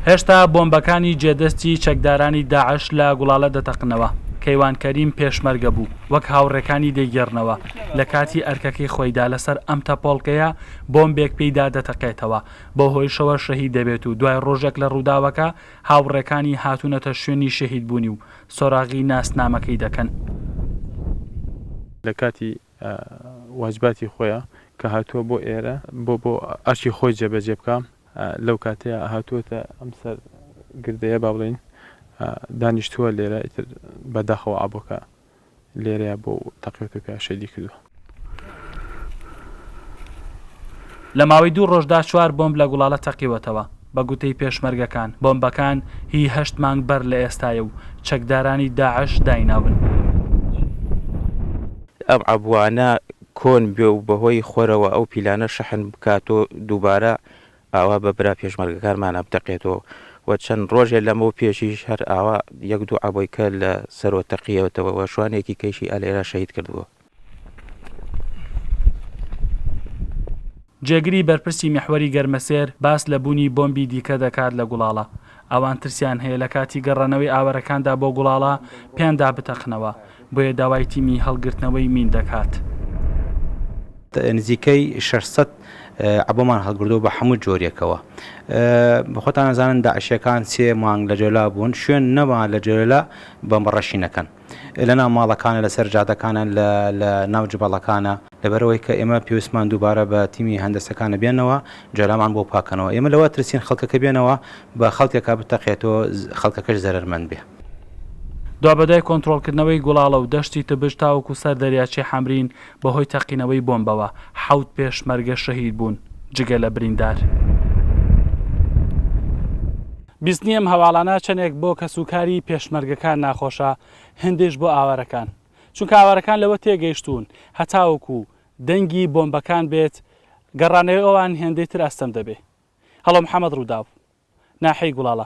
هێشتا بۆمبەکانی جێ دەستی چەکدارانی داعش لە گوڵالە دەتەقنەوە. کەیوان کەریم پێشمەرگە بوو، وەک هاوڕێکانی دەیگێڕنەوە، لە کاتی ئەرکەکەی خۆیدا لەسەر ئەم تەپۆڵکەیە بۆمبێک پێیدا دەتەقێتەوە، بەو هۆیشەوە شەهید دەبێت و دوای ڕۆژێک لە ڕووداوەکە هاوڕێکانی هاتوونەتە شوێنی شەهیدبوونی و سۆراغی ناسنامەکەی دەکەن. لە کاتی واجباتی خۆیە کە هاتووە بۆ ئێرە بۆ بۆ ئەرکی خۆی جێبەجێ بکا لەو کاتەیە هاتووەتە ئەم سەر گردەیە با بڵین دانیشتووە لێرە ئیتر بەداخەوە ئابۆکە لێرەیە بۆ تەقێت و پێ شەیدی کردووە. لە ماوەی دوو ڕۆژدا چوار بۆمب لە گوڵاڵە تەقیوەتەوە، بە گوتەی پێشمەرگەکان، بۆمبەکان هی هەشت مانگ بەر لە ئێستایە و چەکدارانی داعش داینابن. ئەم عەبوانە کۆن بێ و بەهۆی خۆرەوە ئەو پیلانە شەحن بکات و دووبارە ئاوا بە برا پێشمەرگەکانمانا بدەقێتەوە و چەند ڕۆژێ لەمەو پێشیش هەر ئاوا یەک دوو عەبۆی کە لە سەرۆ تەقیەتەوە و شوانێکی کەیشی ئالێرا شەهید کردبووە. جێگری بەرپرسی میحوەری گەرمەسێر باس لە بوونی بۆمبی دیکە دەکات لە گوڵاڵە، ئەوان ترسیان هەیە لە کاتی گەڕانەوەی ئاوەرەکاندا بۆ گوڵاڵە پێیاندا بتەقنەوە، بۆیە داوای تیمی هەڵگرتنەوەی مین دەکات. نزیکەی شەش سەد عەبۆمان هەڵگردووە بە حەموو جۆریەکەوە. خۆتان ئەزانن داعشیەکان سێ مانگ لە جۆلا بوون، شوێن نەما لە جۆلا بۆمبەڕەشی نەکەن. لە ناو ماڵەکانە، لە سەر جادەکانە، لە لە ناو جبەڵەکانە. لەبەرئەوەی کە ئێمە پێویستمان دووبارە بە تیمی هەندەسەکانە بێنەوە جەلامان بۆ پاکەنەوە. ئێمە لەوە ئەترسین خەڵکەکە بێنەوە بە خەڵکێکا بتەقێتەوە خەڵکەکەش زەرەرمەند بێ. دوابەدوای کۆنترۆڵکردنەوەی گوڵاڵە و دەشتی تبش تاوەکو سەر دەریاچەی حەمرین بەهۆی تەقینەوەی بۆمبەوە حەوت پێشمەرگە شەهید بوون جگە لە بریندار. بیستنی ئەم هەواڵانە چەندێک بۆ کەس و کاری پێشمەرگەکان ناخۆشە هێندەیش بۆ ئاوارەکان چونکە ئاوارەکان لەوە تێگەیشتوون هەتاوەکو دەنگی بۆمبەکان بێت گەڕانەوەی ئەوان هێندەی تر ئەستەم دەبێ هەڵۆ محەمەد ڕووداو، ناحیەی گوڵاڵە.